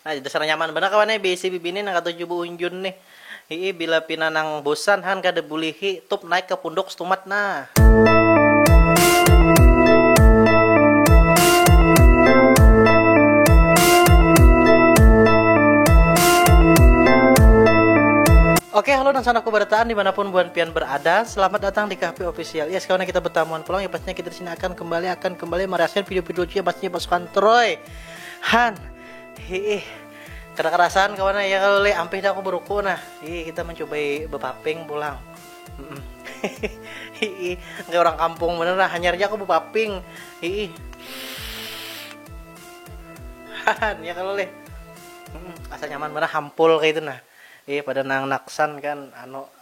Nah, dasar nyaman banar kawan ai beisi bibini nang katuju baunjun nih. Hiih, bila pina nang bosan han kada bulihi, tup naik ka punduk stumat nah. Oke, halo dan sanakku berataan dimanapun buan pian berada. Selamat datang di Kahpi Official. Yes, kawan kita bertamuan pulang ya pastinya kita di sini akan kembali akan kembali merasakan video-video lucu ya pastinya pasukan Troy. Han, hiih, kada karasan kawan ya kalo le, ampih dah aku beruku nah, hiih kita mencubai bepaping pulang, hiih, kaya orang kampung banar nah, hanyar ja aku bepaping, hiih, han, ya kalo le, asa nyaman banar hampul kaya itu nah, hiih, pada nang naksan kan anu.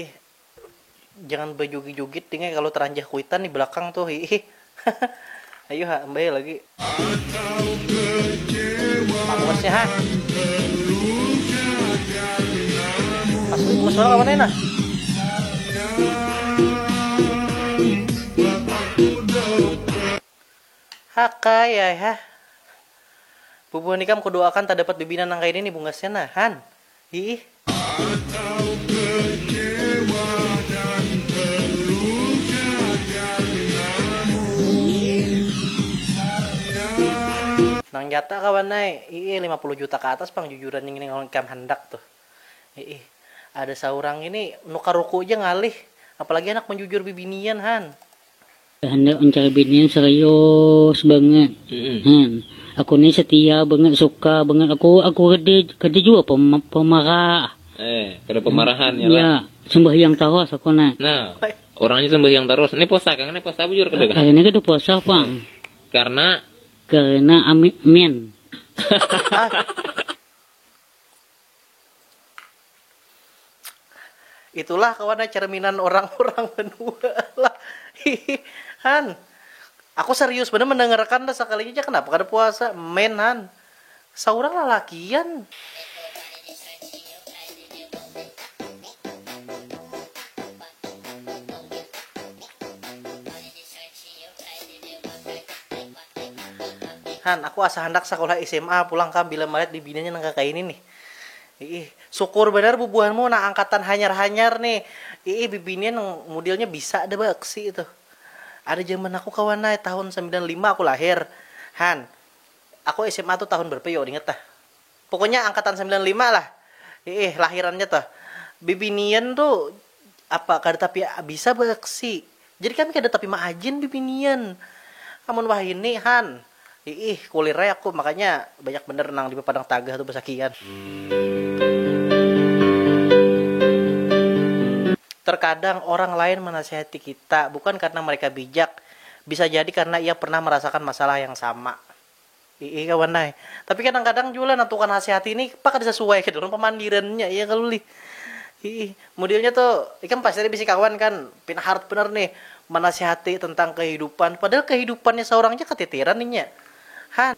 Ih jangan bajugit-jugit ding kalau teranjah kuitan di belakang tuh ih ayo ha mbak lagi pangosnya ha asli masalah kapan enak Haka ya ha Bubuhan ikam kudoakan tak dapat bibinan nang kayak ini bungasnya nah han hiih. Atau kecewa dan terluka karenamu sayang. Nang nyata kawan ai, iih lima puluh juta ka atas pang jujuran nih ngini lawan ikam handak tuh. Iih. Ada saurang ngini nukar ruku ja ngalih, apalagi handak manjujur bibinian han. Handak mencari binian serius banget. Mm-mm. Hmm. Aku ni setia banget, suka banget. Aku aku kada kada juga pem, pemarah. Eh, kada pemarahan ya. Ya, sembahyang terus aku ni. Nah, orangnya sembahyang terus. Ini puasa kang, ini puasa bujur kada kang? Hari ini kada puasa, Pang. Karena karena amin. Itulah kawan ya cerminan orang-orang banua lah. Hihi han. Aku serius bener mendengarkan dah sekalinya ja kenapa kada puasa. Men han. Saurang lalakian. Han, aku asa handak sakulah sma pulang kam bila malihat bibininya nang kakaini nih. Iih, sukur banar bubuhanmu nang angkatan hanyar-hanyar nih. Iih, bibinian nang mudilnya bisa ada baaksi tuh. Ada jaman aku kawan ai, tahun sambilan lima aku lahir. Han, aku sma tuh tahun berapa yo, ingat tah. Pokoknya angkatan sambilan lima lah iih lahirannya tuh. Bibinian tu apa kada tapi bisa beaksi. Jadi kami kada tapi maajin bibinian. Amun wahini han iih kulir ai aku makanya banyak banar nang dipapadang tagah tu basakian. Terkadang orang lain manasihati kita bukan karena mereka bijak, bisa jadi karena ia pernah merasakan masalah yang sama. Iih kawan ai. Tapi kadang kadang jua lah nentukan hasihati nih pa kada sasuai ketu pang pamandirannya iya kalo lih. Iih. Modelnya tu ikam pasti ada bisi kawan kan pina hard banar nih manasihati tentang kehidupan padahal kehidupannya saurang ja kateteran inya. Han.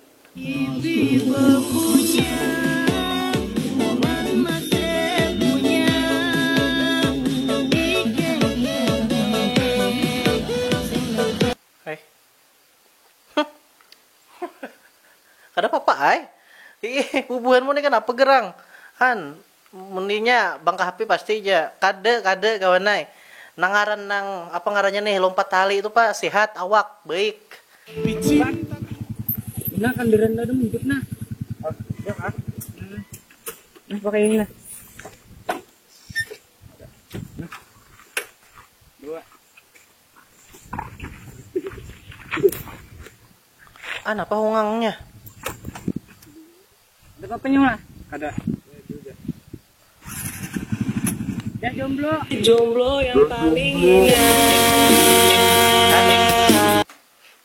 Hai. Kada papa ai. Iih, bubuhanmu ni kanapa gerang? Han, mun inya bang ka hape pasti ja. Kada, kada kawan ai. Nang ngaran nang, apa ngarannya nih, lompat tali tu pa, sehat awak, baik. Pici, nah kandaran kada muncuk nah. Oh, iya kah? Nah, pakai ini nah. Nah, dua. An apa hungangnya? Ada apa nyawa? Ada. Ya jomblo. Jomblo yang paling indah.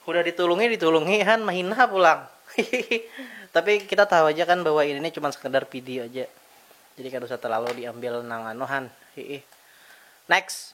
Udah ditulungi ditulungi Han mahina pulang. Tapi kita tahu aja kan bahwa ini cuma sekedar video aja. Jadi kada usah terlalu diambil nang anu Han. Next.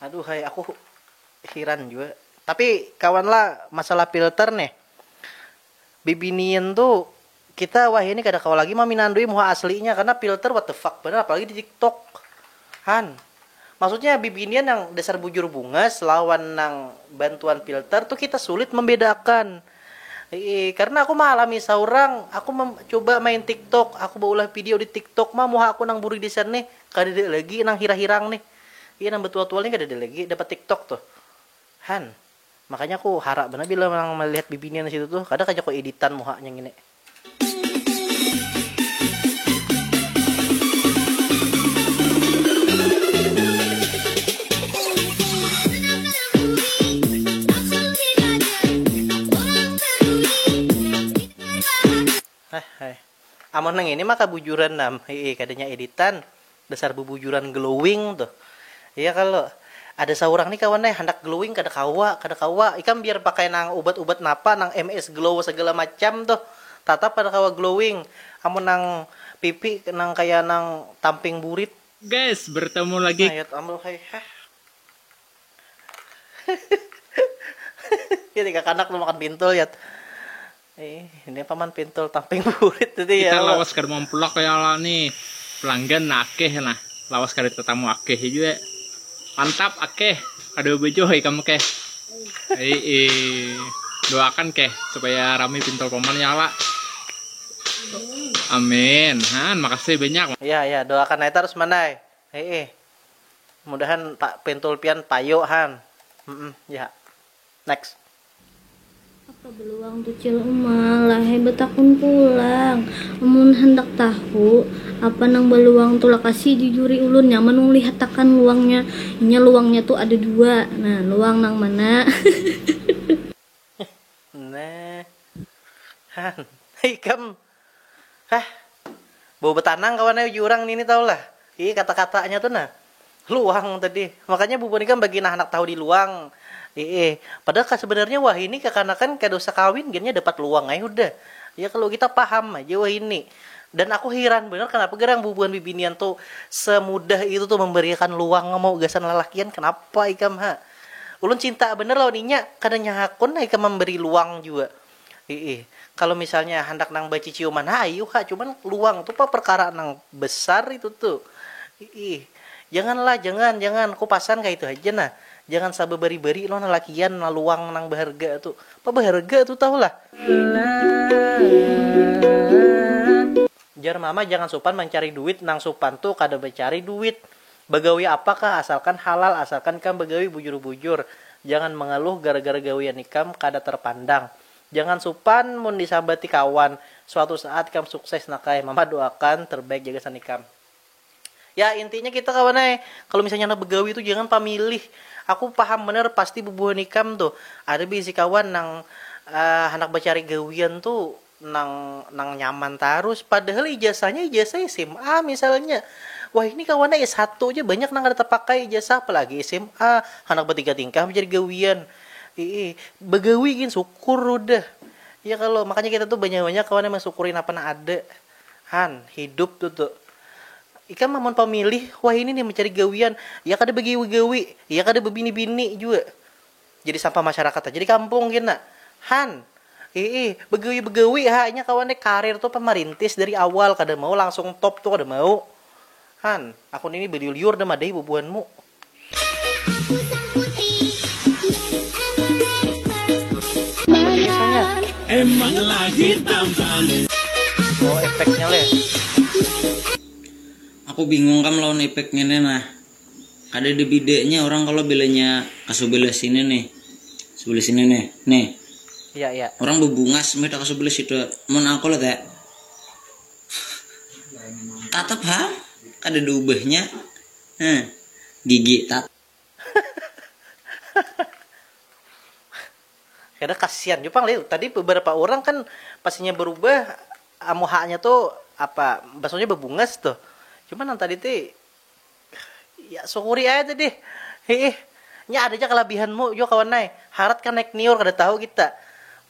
Aduhai aku hiran jua. Tapi kawan lah masalah filter nih. Bibinian tu kita wahini kada kawa lagi maminandui muha aslinya karena filter what the fuck banar apalagi di tiktok. Han. Maksudnya bibinian yang dasar bujur bungas lawan nang bantuan filter tu kita sulit membedakan. Ii, karena aku maalami saurang, aku coba main tiktok, aku baulah video di tiktok mah muha aku nang buri desain nih. Kadada lagi nang hirang-hirang nih. Iya nang betual-tual nih kadada lagi dapat tiktok tuh. Han. Makanya aku harak banar bila nang malihat bibinian di situ tuh. Kada kah jaku editan muhanya ngini. Heh heh. Amun nang ini mah kabujuran nam hii kadanya editan dasar bubujuran glowing tuh iya kalo ada saurang nih kawan ai handak glowing kada kawa kada kawa ikam biar pakai nang ubat ubat napa nang MS glow segala macam tuh tatap kada kawa glowing amun nang pipi nang kaya nang tamping burit. Guys bertemu lagi. Nah yot ambl hai heh jadi kakanak tuh makan pintul yot. Ih, ini paman pintul tamping burit tadi ya. Kita lawas kada mampulak ya Allah nih. Pelanggan nah akeh nah. Lawas kada tetamu akeh juga. Mantap akeh. Kada bebejoh ikam keh. Ii, doakan keh supaya rami pintul paman ya Allah. Amin. Han, makasih banyak. Iya, iya, doakan ai tarus mandai. Ii. Mudahan pintul pian payu han. Mm, -mm ya. Next. Apa beluang tu Cil Uma, lahai betakun pulang. Amun handak tahu apa nang beluang tu lakasi jujuri ulun, nyaman nang lihat akan luangnya. Inya luangnya tu ada dua. Nah, luang nang mana? Hehehe. Nah. Han. Hei ikam. Hah. Bau betanang kawan ai uju urang nini tahu lah. Ih kata-katanya tu nah. Luang tadi. Makanya bubun ikam bagi nah anak tahu di luang. Iih. Padahal ka sebenarnya wahini kakanakan kada usah kawin gin nya dapat luang ai hudah. Ya kalo kita paham aja wahini. Dan aku hiran banar kanapa garang bubuhan bibinian tu semudah itu tu memberiakan luang mau gasan lalakian kanapa ikam ha. Ulun cinta banar lawan inya kada nya hakun nah ikam memberi luang jua. Iih, kalo misalnya handak nang baciciuman ha ayu ha, cuman luang tu pang perkara nang besar itu tu. Iih, jangan lah, jangan, jangan, ku pasan kaya itu haja nah. Jangan sababari-bari lo lalakian nah luang nang baharga tu. Pa baharga tu tahu lah. Jar mama jangan supan mancari duit, nang supan tu kada bacari duit. Bagawi apa kah asalkan halal asalkan ikam bagawi bujur bujur jangan mangaluh gara gara gawian ikam kada tarpandang jangan supan mun disambati kawan suatu saat ikam sukses nakay mama doakan terbaik ja gasan ikam ya intinya kita kawan ai kalu misalnya handak bagawi tu jangan pamilih aku paham banar pasti bubuhan ikam tu ada baisi kawan nang handak bacari gawian tu nang nang nyaman tarus padahal ijasahnya ijasah sma misalnya wahini kawannya s satu ja banyak nang kada tapakai ijasah apalagi sma handak batiga tingkah mencari gawian iih bagawi gin sukur hudah ya kalo makanya kita tu banyak banyak kawan yang mansukuri napa nang ada han hidup tu tu ikam amun pamilih wahini nih mencari gawian ya kada bagawi gawi ya kada babini bini jua. Jadi sampah masyarakat haja di kampung gin nah han, iih begawi begawi ha inya kawan deh karir tu pan marintis dari awal kada mau langsung top tu kada mau han, aku nini baliur liur dah madahi bubuhan mu. Aku bingung kam lawan epek ngini nah, Kada ada bidanya orang kalau bilanya kasubelah sini nih. Sebelah sini nih. Nih. Iya, iya. Orang bebungas meda kasubelah situ. Mun aku lah teh. Tatap ha. Kada ada ubahnya. Nah, gigi tat. Kada kasihan jua pang tadi beberapa orang kan pasinya berubah amuhanya tuh apa basunya bebungas tuh. Cuman yang tadi tuh Ya sunguri ai tu dih. Hiih. Nya ada ja kalabihan mu jua kawan ai. Harat kah naik niur kada tahu kita.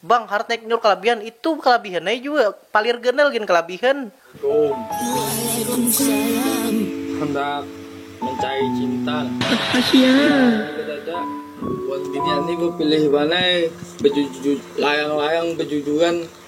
Bang, harat naik niur kalabihan. Itu kalabihan ai jua. Palir ganal gin kalabihan. Waalaikumsalam. Handak mencari cinta lah. Hahahiaa. Kadada. Wan binian ni bapilih banar. Baju-ju layang-layang bajujuran.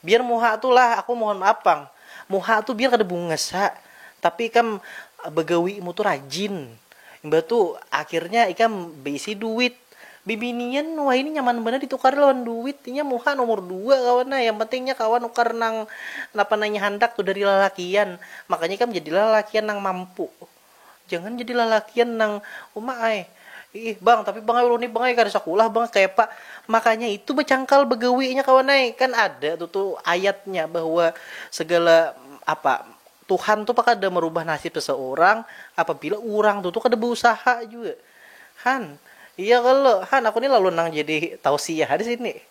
Biar muha tu lah aku mohon maaf pang, muha tu biar kada bungas ha, tapi ikam bagawi mu tu rajin, imbah tu akhirnya ikam baisi duit, bibinian wahini nyaman banar ditukari lawan duit, inya muha nomor dua kawan ai, yang penting inya kawa nukar nang napa nang inya handak tu dari lalakian, makanya ikam jadilah lalakian nang mampu. Jangan jadi lalakian nang uma ai. Iih bang, tapi bang ai ulun ni bang ai kada sakulah bang, kayapa makanya itu bacangkal bagawinya kawan ai. Kan ada tu tu ayatnya bahwa segala apa Tuhan tu kada marubah nasib seseorang apabila urang tu tu kada bausaha jua. Han, iya kalo. Han, aku ni lalu nang jadi tausiah disini.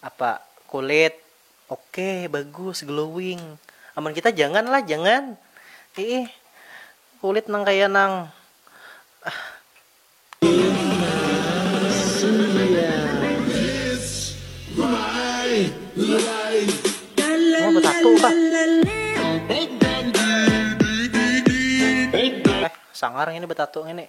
Apa kulit oke bagus glowing amun kita jangan lah jangan iih kulit nang kaya nang eh sangar ngini betatu ngini.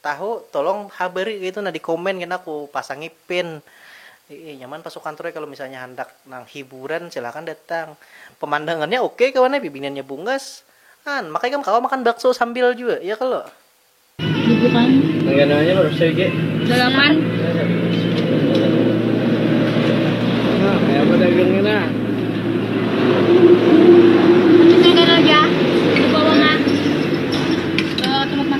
Tahu tolong ha beri kaitu nah di komen kena ku pasangi pin ii nyaman pasukan troy kalo misalnya handak nang hiburan silakan datang pemandangannya oke kawan ai bibiniannya bungas an maka ikam kawa makan bakso sambil jua ya kalo. Dalaman.